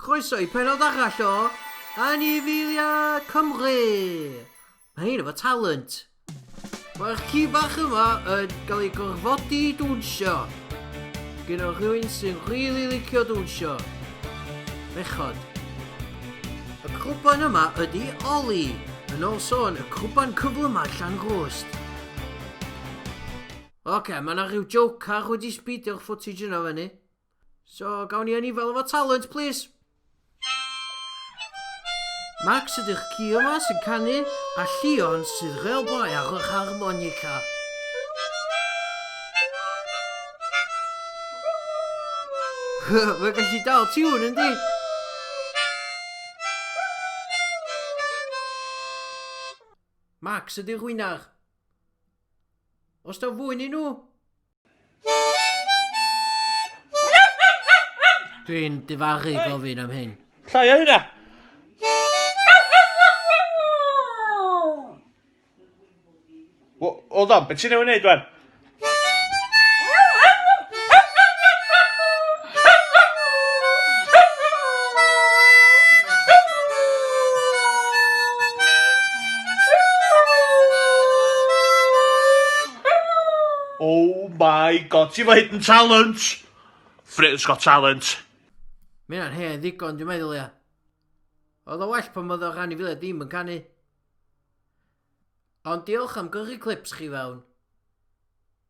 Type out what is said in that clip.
Croeso i penod arall o Anifeilia Cymru! Mae hyn efo talent! Mae'r ci bach yma yn cael ei gorfodi i dwnsio. Gen o rhywun sy'n rili licio dwnsio. Bechod. Y crwban yma ydy Oli, yn ôl sôn y crwban cyflymau llan rwst. Oce, okay, mae yna rhyw joke ar wedi sbidio'r footage yna fyny. So, gawn ni anifail efo talent, please. Max ydy'ch ci yma sy'n canu, a Llion sydd fel boi ar yr harmonica. Mae'n gallu dal tiwn, yndi? Max ydy'r hwynar. Os da fwy ni nhw, Dwi'n difaru gofyn am hyn. Llai o hynna! Hold on, beth ti'n ei wneud wan? Oh my god, ti'n fawr hidden talent! Britain's got talent. Mae hynna'n hen ddigon, dwi'n meddwl ia. Oedd o well pan oedd o rhan i filiau dim yn canu. Ond diolch am gyrru clips chi fewn.